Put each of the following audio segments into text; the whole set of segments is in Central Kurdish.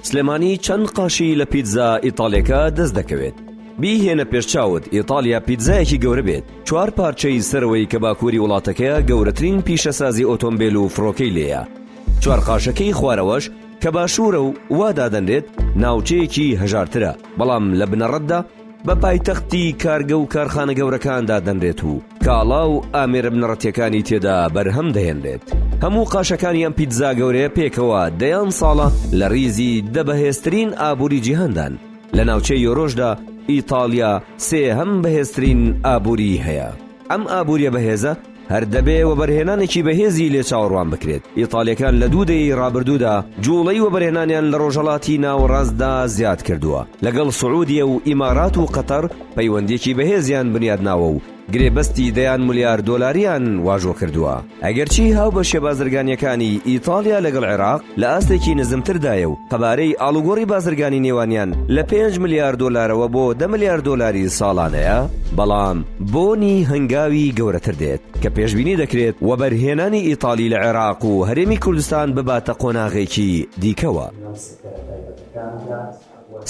سلێمانی چەند قاشی لە پیتزا ئیتاڵیەکە دەست دەکەوێت بیهێنە پێش چاوت ئیتاالیا پیتزایەکی گەورە بێت چوار پارچەی سەرەوەی کە باکووری وڵاتەکەیە گەورەترین پیشەسازی ئۆتۆمبیل و فڕۆکەی لێە چوار قاشەکەی خوارەوەش کە باشوورە و وادادەنرێت ناوچەیەکی هەژارترە بەڵام لە بنەڕەتدا بە پایتەختی کارگە و کارخانە گەورەکان دادەنرێت و کاڵا و ئامێرە بنەڕەتیەکانی تێدا بەرهەم دەهێنرێت هەموو قاشەکانی ئەم پیتزا گەورەیە پێکەوە دەیان ساڵە لە ریزی دە بەهێزترین ئابووری جیهاندان لە ناوچەی یۆرۆشدا ئیتاڵیا سێهەم بەهێزترین ئابووری هەیە ئەم ئابووریە بەهێزە هەر دەبێ وەبەرهێنانێکی بەهێزی لێ چاوەڕوان بکرێت، ئیتاڵییەکان لە دوو دەیەی رابردوودا جووڵەی وەبەرهێنانیان لە رۆژهەڵاتی ناوەڕاستدا زیاد کردووە، لەگەڵ سعوودیە و ئیمارات و قەتەر پەیوەندییەکی بەهێزیان بنیاد ناوە و گرێبەستی دەیان ملیار دۆلاریان واژۆ کردووە. ئەگەرچی هاوبەشە بازرگانییەکانی ئیتاڵیا لەگەڵ عێراق، لە ئاستێکی نزمتردایە و قەبارەی ئاڵوگۆڕی بازرگانی نێوانیان لە پێنج ملیار دۆلارەوە بۆ دە ملیار دۆلاری ساڵانەیە، بەڵام بۆنی هەنگاوی گەورەتر دێت، کە پێشبینی دەکرێت وەبەرهێنانی ئیتاڵی لە عێراق و هەرێمی کوردستان بباتە قۆناغێکی دیکەوە.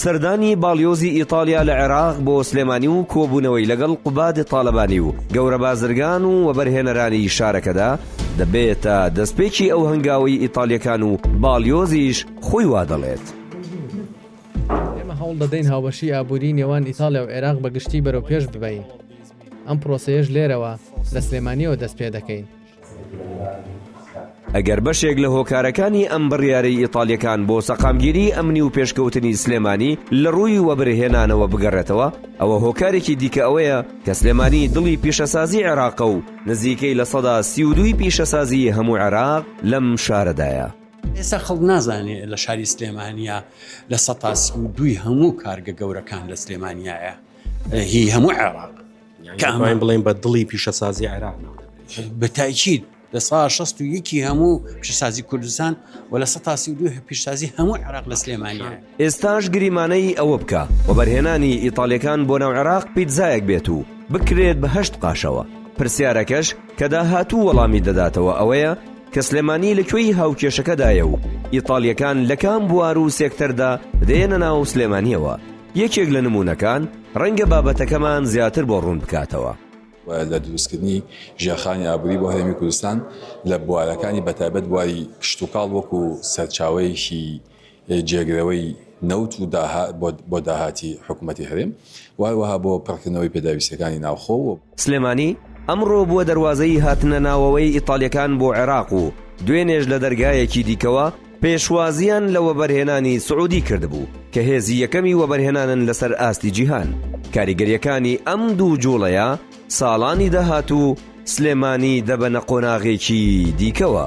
سەردانی باڵیۆزی ئیتاڵیا لە عێراق بۆ سلێمانی و کۆبوونەوەی لەگەڵ قوباد تاڵەبانی و گەورە بازرگان و وەبەرهێنەرانی شارەکەدا دەبێتە دەستپێکی ئەو هەنگاوەی ئیتاڵییەکان و باڵیۆزیش خۆی وا دەڵێت. ئێمە هەوڵ دەدەین هاوبەشیی ئابووریی نێوان ئیتاڵیا و عێراق بە گشتی بەرەوپێش ببەین، ئەم پرۆسەیەش لێرەوە، لە سلێمانییەوە دەست پێ دەکەین. ئەگەر بەشێک لە هۆکارەکانی ئەم بڕیارەی ئیتاڵیەکان بۆ سەقامگیری ئەمنی و پێشکەوتنی سلێمانی لە ڕووی وەبرهێنانەوە بگەڕێتەوە ئەوە هۆکارێکی دیکە ئەوەیە کە سلێمانی دڵی پیشەسازی عێراقە و نزیکەی لە سەدا سی و دووی پیشەسازی هەموو عێراق لەم شارەدایە. ئێستا خەڵک نازانێ لە شاری سلێمانیە لە سەتا سی و دووی هەموو کارگە گەورەکان لە سلێمانیایە هی هەموو عێراق. دەتوانین بڵێن بە دڵی پیشەسازی عێراق بە تایچیت لە سا 16 یەکی هەموو پیشسازی کوردستان و لە سە تاسی دو پیشسازی هەموو عراق لە سلێمانە ئێستاش گریمانەی ئەوە بکە وەبەرهێنانی ئیتالەکان بۆ ناو عێراق پیتزایەک بێت و بکرێت بەهشت قاشەوە پرسیارەکەش کە داهاتوو وەڵامی دەداتەوە ئەوەیە کە سلێمانی لە کوێی هاوکێشەکەدایە و ئیتالیەکان لە کام بوار و سێکتەردا دێنە ناو سلێمانیەوە یەکێک لە نموونەکان ڕەنگە بابەتەکەمان زیاتر بۆ ڕوون بکاتەوە. و لە دروستکردنی ژێرخانی ئابووری بۆ هەرێمی کوردستان لە بوارەکانی بەتایبەت بواری کشتوکاڵ وەکو سەرچاوەیەکی جێگرەوەی نەوت و بۆ داهاتی حکوومەتی هەرێم و هەروەها بۆ پڕکردنەوەی پێداویستییەکانی ناوخۆ و سلێمانی، ئەمڕۆ بووە دەروازەی هاتنە ناوەوەی ئیتاڵییەکان بۆ عێراق و دوێنێش لە دەرگایەکی دیکەوە پێشوازییان لە وەبەرهێنانی سعودی کردبوو کە هێزی یەکەمی وەبەرهێنانن لەسەر ئاستی جیهان، کاریگەرییەکانی ئەم دوو جووڵەیە ساڵانی داهاتوو سلێمانی دەبەنە قۆناغێکی دیکەوە.